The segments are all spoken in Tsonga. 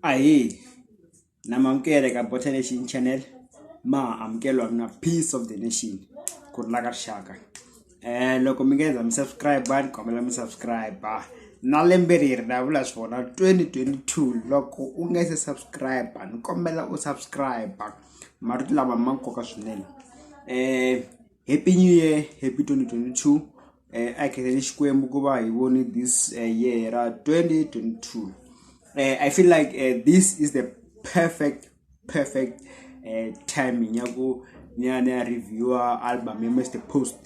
Ahee na mi amukela eka Botha Nation Chanel ma amukela mina Peace of the Nation ku rhula ka rixaka um loko mi nga za mi subscribe ni kombela mi subscribe na lembe leri na vula swi vona 2022 loko u nga se subscribe ni kombela u subscribe marito lama ma nkoka swinene um happy new year happy 2022 eh, a hi kheneni xikwembu ku va hi voni this eh, year ra 2022 eh, i feel like eh, this is the perfect perfect eh, timing ya ku ni ya ni ya reviewa album ya mr post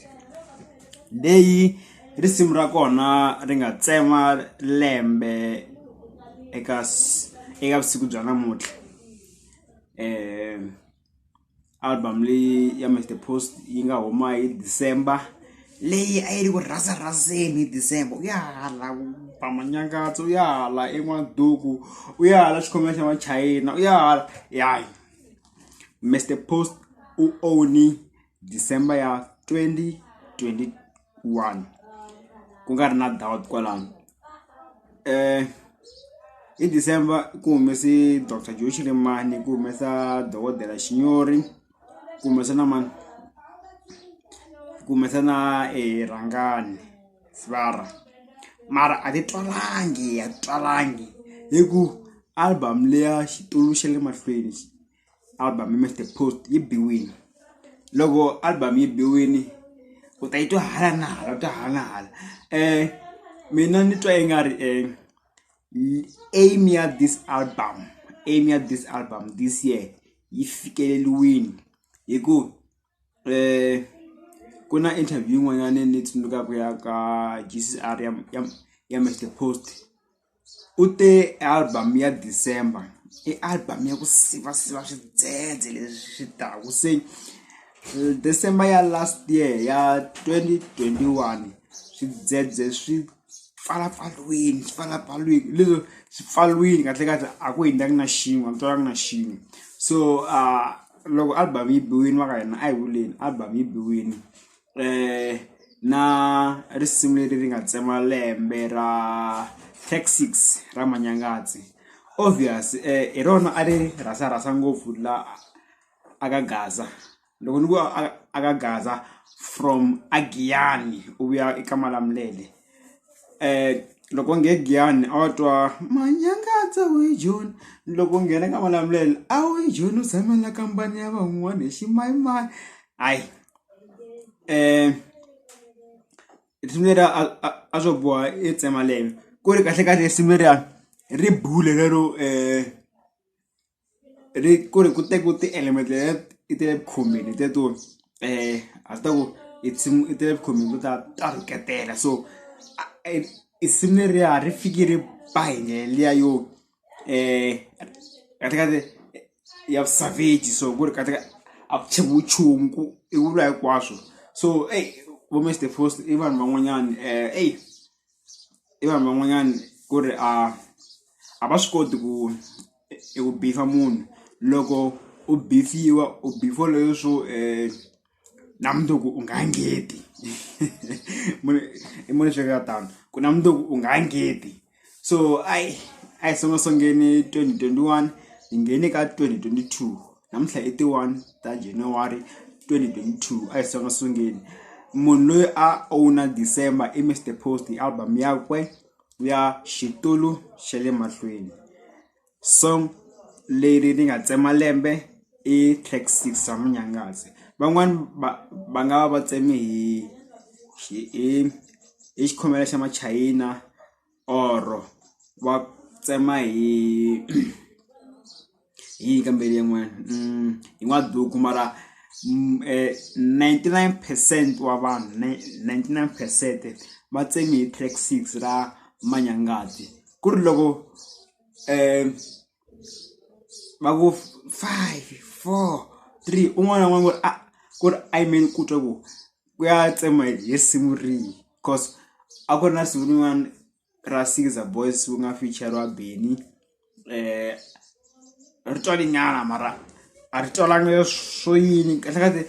leyi risimu ra kona ri nga tsema lembe eka s- eka vusiku bya namuntlha um album leyi ya Mr Post yi nga huma hi December leyi a yi ri ku rhasa rhaseni hi December u ya hala ku pama nyangatso u ya hala en'waduku u ya hala xikhomela xa machayina u ya hala ya Mr Post u own-i December ya 2021 ku nga ri na doubt kwalano um hi December ku humese doctor Joe Shirimani ku humesa dokodela Xinyori ku humesa na mani ku humesa na e Rhangani Sibara mara a ti twalangi a ti twalangi hi ku album leya xitulu xa le mahlweni. album Mr Post yi biwile loko album yi biwile u ta yi twa hala na hala u twa hala na hala um mina ni twa i nga ri um aim ya this album aim ya this album this year yi fikeleliwini hi ku ku na interview yin'wanyana ni yi tsundzukaka ya ka J_C_R ya ya ya Mister Post u te album ya December i album ya ku siva siva swidzedze leswi swi taka se December ya last year ya twenty twenty one swidzedze swi. pfalapfaliwini swi pfalapfaliwini leswo swi pfariwile kahle kahle a ku hundzanga na xin'we a ku twanga na xin'we so loko album yi biwile va ka hina a hi vuleni album yi biwile na risimu leri ri nga tsema lembe ra Tech 6 ra Manyangatsi obvious hi rona a ri rhasa rhasa ngopfu la a ka Gaza loko ni ku a ka gaza from a giyani u vuya eka malamulele loko nge giyani a wa twa manyangatsa we joni loko u nghena ka malamulele a wu joni u tshamela kambani ya van'wani hi ximayimani hayi risimu leriya a swo boha i tsema lembe ku ri kahlekahle risimu leriya ri bule lero . ri ku ri ku te ku ti element leyi i ti le ku khomeni hi teto a swi ta ku i nsimu i ti le ku khomeni to ta ta rhuketela so i simu leriya ri fiki ri ba hi ndlela liya yo kahlekahle ya vusavheji so ku ri kahleka a ku chekiwi nchumu ku i vula hinkwaswo so eyi vo Mister Post i vanhu van'wanyana eyi. i vanhu van'wanyana ku ri a a va swi koti ku i ku bisa munhu loko u biwa u biwa leswo na mundzuku u nga ngheni i munhu hleketa tano ku na mundzuku u nga ngheni so a hi a hi sungula sungula twenty twenty one hi nghene ka twenty twenty two. namuntlha i ti one ta January 2022 a hi songa sungeni munhu loyi a owner December i Mr Post hi album yakwe ya xitulu xa le mahlweni song leri ni nga tsema lembe i track 6 ra munyangazi van'wani va va nga va va tseme hi hi hi xikhomela xa machayina or va tsema hi hi yini ka mbuyelo yin'wana hi n'waduku mara ninety nine percent wa vanhu ninety nine percent va tsemi hi track six ra manyangati ku ri loko um va ku five four three un'wana na un'wana ku ri a ku ri a yimele ku twa ku ku ya tsemiwa hi risimu rihi coz a ku ri na risimu rin'wana ra Ceaser boys ku nga ficheriwa Benny ri twale nyana mara a ri twalanga swo yini kahle kahle.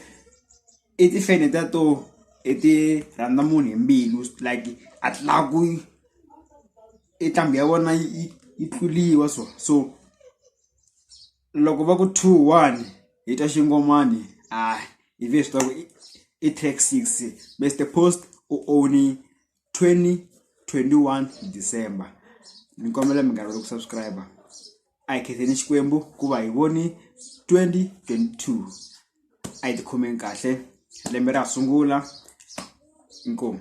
i tifeni ta to i ti rhandza munhu hi mbilu like a ti lavi ku i nqambi ya vona yi yi tluriwa so so loko va ku two one hi ta xingomani a hi ve swi tiva ku i track six mister post u own-i. 2021 december ni kombela mi nga rivali ku subscribe a hi khetheni xikwembu ku va hi voni 2022 a yi tikhomeni kahle lembe ra sungula inkomu